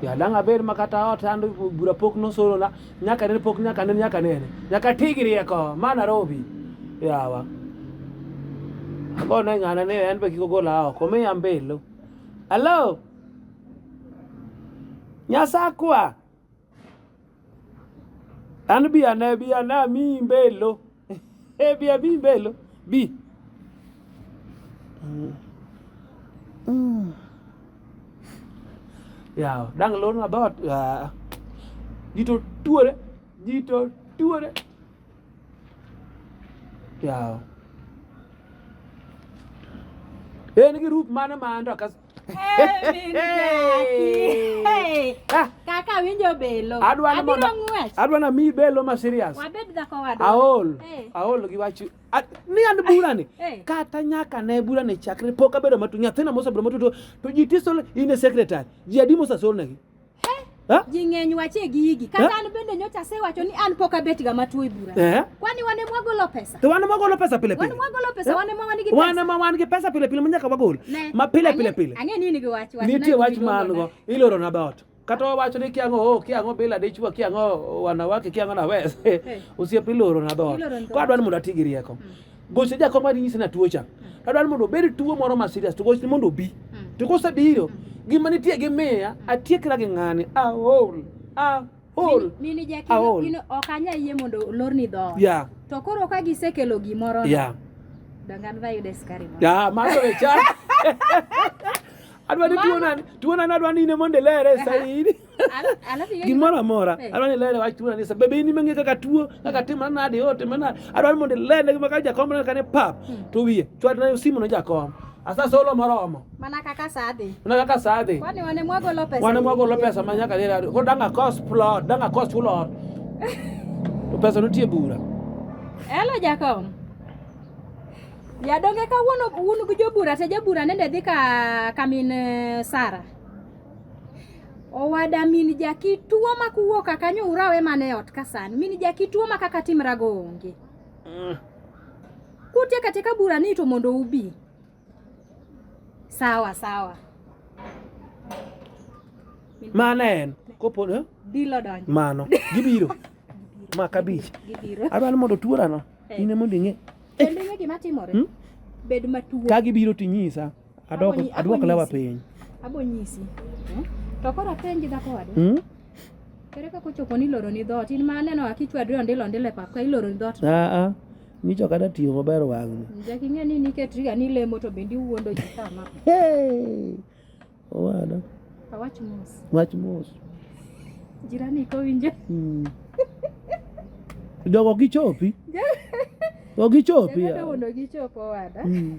Yadang' abed ma kata ot an bura pok nosorona nyaka nene pok nyaka nene nyaka nene nyaka ti gi rieko ma Nairobi yawa agone ng'ana ni en be kik ogola oko miya mbelo alo nyasakwa An bi ane bi ane amiyi mbelo. Eh, bi amiyi mbelo. Bi. Yawa, dang' lorna dhoot. Ah. Ji to tuore. Ji to tuore. Yawa. En gi rup mane ma an to akas- Ah. Kaka winjo belo. Adwa na mondo adwa na mi belo ma serious. Wabed dhako wadwa. Aol. Aol gi wachu. Ni an bura ni. Kata nyaka ne bura ni chakre pok abedo matu nyathina mosebedo matu to ji tiso in a secretary. Ji adimo sasol negi. Ji ng'eny wache gigi. Kata an bende nyocha asewacho ni an pok abet ga matuo e bura. Eh? Kwani wane mwagolo pesa? To wane mwagolo pesa pile pile. Wane mwagolo pesa, wane mwa wan gi pesa. Wane mwa wan gi pesa pile pile manyaka wagol. Ma pile pile pile. Ang'e nini gi wach wach. Nitie wach ma an go. Iloro na dot. Kata wawacho ni kiang'o oh, kiang'o bila dichwa kiang'o wanawake kiang'o na wes. Osiep iloro na dot. Kwa dwani mondo ati gi rieko. Hmm. gochne jakom mar nyise na tuo cha tadwaro mondo obed tuo moro ma serious to gochne mondo obi to kosebiro gima nitie gi miya atiekra gi ng'ani aol aol mini jaki Aol. in ok anya yie mondo olorni dhoot ya to koro ka gisekelo gimoro ya dangan vayude skari moro ya mago e cha adwa ni tuo nani tuo nani adwa ni ine mondo ilere saidi gimoro amora eh. adwa ni lele wach tuo anisa bebe in imang'e kaka tuo kaka timore nade yote mana adwa ni mondo ilene gima ka jakom neno kane pap hmm. to wiye chwadna simu ne jakom asa solo moromo mana kaka sadhi mana kaka sadhi kwani wane mwagolo pesa wane mwagolo pesa ma nyaka lele ko danga cost plot danga cost plot to pesa nitie bura elo jakom yadonge kawuono un gi jobura te jabura nende dhi ka kamin eh, sara Owada min jaki tuo ma kuwo kaka nyura we mane ot ka sani. Min jaki tuo ma kaka timra go onge. Mm. Kutie kate ka bura ni to mondo ubi. Sawa sawa. Mane en kopo eh? Dilo donjo. Mano gibiro. ma kabich. Gibiro. Adwaro mondo tuora no. Hey. Eh. Ine mondo ing'e. Kendo ing'e gima timore. Hmm? Bed matuo. Ka gibiro tinyisa. Adwoko adwoko lewa piny. Abo nyisi. Eh? To kora penji dhako wadu. Mm? Kere kako chopo ni loro ni dhot. In ma aneno akichwa dwe ondilo ondile pap ka iloro ni dhot. Ah ah. Ni cho kada tiyo maber wang. Jaki ng'e ni niket riga ni lemo to bendi wuondo ji kama. Hey. Owada. Awach mos. Wach mos. Jirani ko winje. Mm. Jogo gichopi. Jogo gichopi. Jogo gichopo wada. Mm.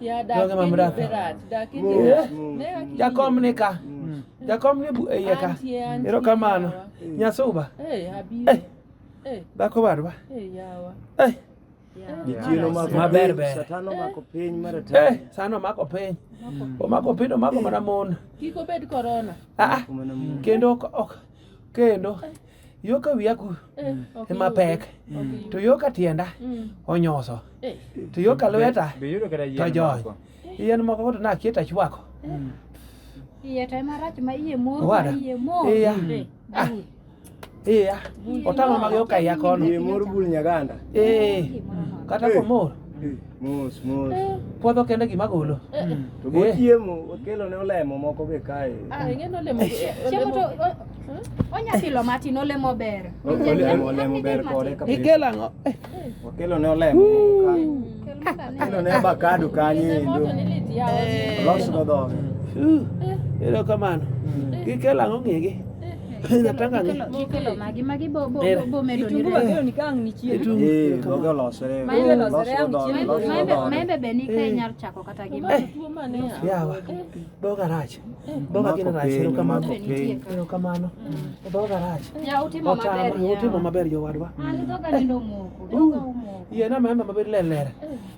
dɔgɔma mura fɛ jakɔm ne ka jakɔm ne bu eye ka yɛrɛ ka maa no nyasow ba dako ba do ba maber ber sano mako piny omako piny omako mana mon kendo kendo yo ka wiya ku Eh, ok ema iyudo. pek Ok iyudo. to yo ka tienda Mm. onyoso Eh, to yo ka lweta Be yudo kata yien to jony moko? yien moko koro nakie to achwako Iye to ema rach ma iye mor ma Owada. iye mor. iya eh, Ah. bul. iya Bul. otama mag yo ka iya kono Yie mor bul nyaganda. ee Gimoro nono. kata komor Eh. Mos mos. Eh. Puodho kende gima golo. Eh, eh. To go chiemo, okelo ne olemo moko be kae. Ah, ing'eno olemo. Chiemo to onya pilo matin olemo ber. Olemo olemo ber kode kabisa. Ikelo ang'o? Okelo ne olemo moko kae. Okelo ne avocado kanye endo. Los go dhoge. Erokamano. Gikelo ang'o ng'egi? maembe be ni ka inyalo chako kata gi yawa dhoga rach dhoga gin rach erokamano erokamano dhoga rach otama utimo maber jowadwa yiena maembe maber lelere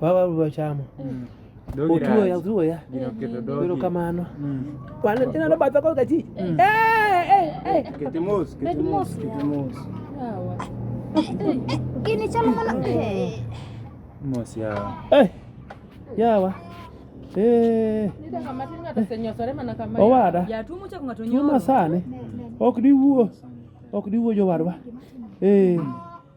wawaru wachamo mm. otuoya otuoya biro kamano mm. ineno batha kod kachi mm. gini chalo mana mos yawa yawa owada tuma sani ok diwuo ok diwuo jowadwa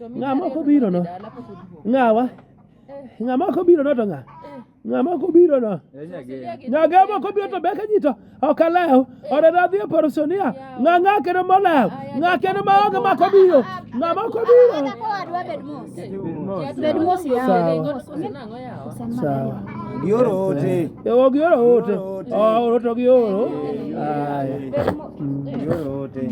Ng'a ma ok obirono? Ng'awa? Ng'a ma ok obirono to ng'a? Ng'a ma ok obirono? Nyagee ma ok obiro to beke ji to ok alew. Oreda dhi e parosonia. Ng'a ng'a kendo molew? Ng'a kendo ma onge ma ok obiro? Ng'a ma ok obiro? Bed mos yawa. Sawa. Gioro ote. E, ok gioro ote. Oh, oro to gioro. Aya. Gioro ote.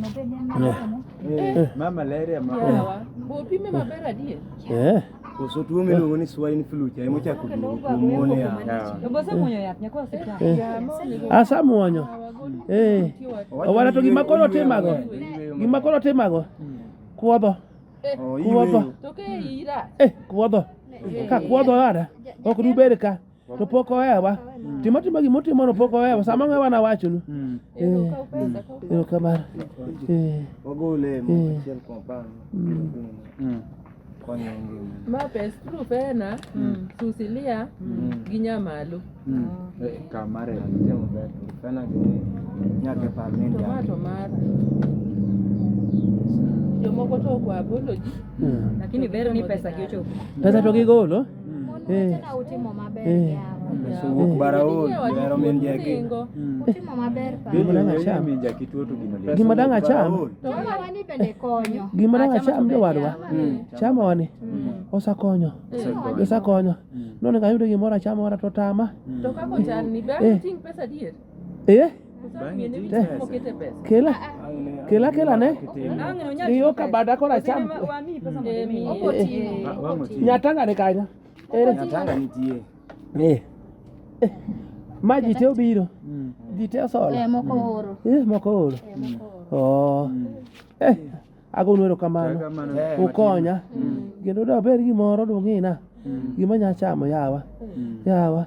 Eh, ma malaria ma. Yawa. Bo pime maber adier. Eh. Koso tuo miluongo ni swine flu cha emo chako duogo kuom mon ya. Asamuonyo. Eh. Owara to gima koro timago. Gima koro timago. Kuodho. Oh, Kuodho. iwe. Toke ira. Eh, kuodho. Ka kuodho ada. Ok duber ka. to pok ohewa timo timo gima utimono pok ohewa sama ng'e wana wachonu erokamano ma pes proof ena susilia gi nyamalo kamare tomato mara jomoko to okwa apology lakini ber ni pesa gi ochopo pesa to gigolo gimadang acham gimadang acham jowadwa chama wani osakonyo osakonyo none kayudo gimoro achama wara to tama Eh? Kela. Kela kela ne. Iyo ka bada kora cham. Nyatanga ne kanya. Ere. Nyatanga nitie. Eh. eh. Ma ji te obiro. Mm. Ji te osola. Eh moko mm. oro. Eh moko oro. Eh, oh. Mm. Eh. Ago nwero kamano. Eh, Ukonya. Kendo da ber gimoro dung'ina. Gima nya chamo yawa. Yawa.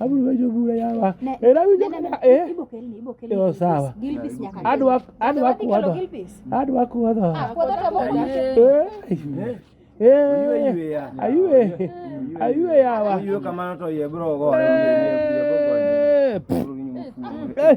abiro jo bura yawa era winjo kana eh yo sawa adwa adwa kuodho adwa kuodho eh eh ayue ayue yawa ayue kamano to ye bro gore eh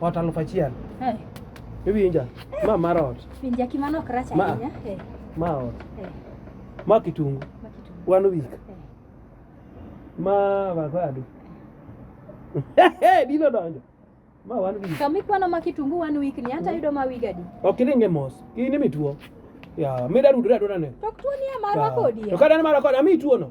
Ot alufu achiel. Eh. Iwinja? Ma mar ot. Winja kimano ok rach ahinya. Eh. Ma ot. Eh. Ma kitungu. Ma kitungu. One week. Eh. Ma avocado. Dilo donjo. Ma one week. Kama ikwano ma kitungu one week ni hata mm. yudo ma week adi. Ok ilinge mos. Hii ni mituo. Ya, mida rudura dona ne. Tok tuo ni amara kodi. To kada ni mara kodi, ami tuo no.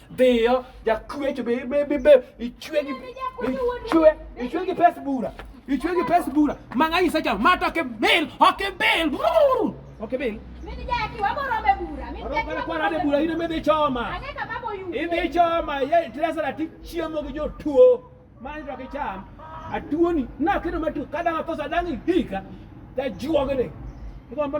Dhiyo, jakwecho be be be be ichwe gi ichwe ichwe gi pes bura. Ichwe gi pes bura. Manga isa cha mata ke bil, oke bil. Oke bil. Mimi jaki wabo rombe bura. Mimi jaki wabo kwa rade bura ine mede choma. Aneka babo yu. Ine choma ye tresa na ti chiemo gi jo tuo. Mani to ke cham. Atuoni na kedo matu kada ngakosa dangi hika. Ta juogene. Iko mbona